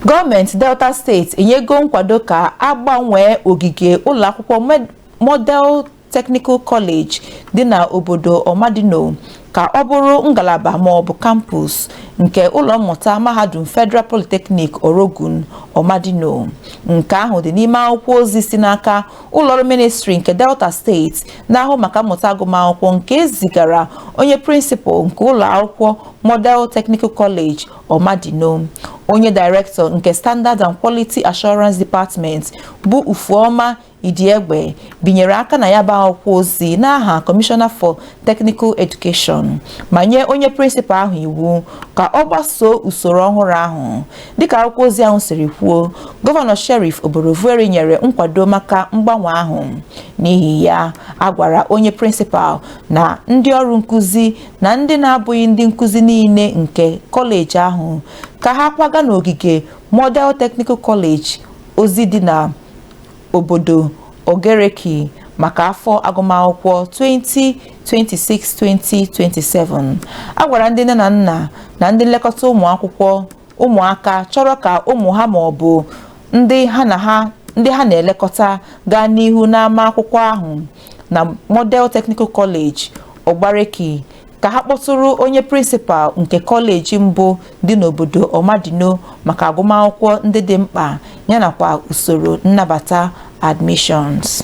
gọọmenti delta steeti enyego nkwado ka a gbanwee ogige ụlọakwụkwọ model technical college dị na obodo ọmadino ka ọ bụrụ ngalaba ma ọ bụ kampus nke ụlọ mmụta mahadum federal polytechnic orogun ọmadino nke ahụ dị n'ime akwụkwọ ozi si n'aka ụlọọrụ ministri nke delta steeti na-ahụ maka mmụta agụmakwụkwọ nke e zigara onye prịnsịpal nke ụlọ akwụkwọ model technical college Omadino, onye Director nke Standard and Quality Assurance Department bụ Ufuoma Idiegbe binyere aka na ya bụ akwụkwọ ozi n'aha Commissioner for Technical Education ma nye onye prịnsịpal ahụ iwu ka ọ gbasoo usoro ọhụrụ ahụ dịka akwụkwọ ozi ahụ siri kwuo gọvanọ Sheriff Oborevwori nyere nkwado maka mgbanwe ahụ n'ihi ya a gwara onye prịnsịpal na ndị ọrụ nkụzi na ndị na-abụghị ndị nkụzi niile nke kọleji ahụ ka ha kwaga n'ogige Model Technical College ọzọ dị na obodo Oghareki maka afọ agụmakwụkwọ 2026-2027 a gwara ndị nne na nna na ndị nlekọta ụmụ akwụkwọ ụmụaka chọrọ ka ụmụ ha ma ọ bụ ndị ha na-elekọta gaa n'ihu n'ama akwụkwọ ahụ na Model Technical College Oghareki ka ha kpọtụrụ onye prịnsịpal nke kọleji mbụ dị n'obodo Omadino maka agụmakwụkwọ ndị dị mkpa yanakwa usoro nnabata admissions.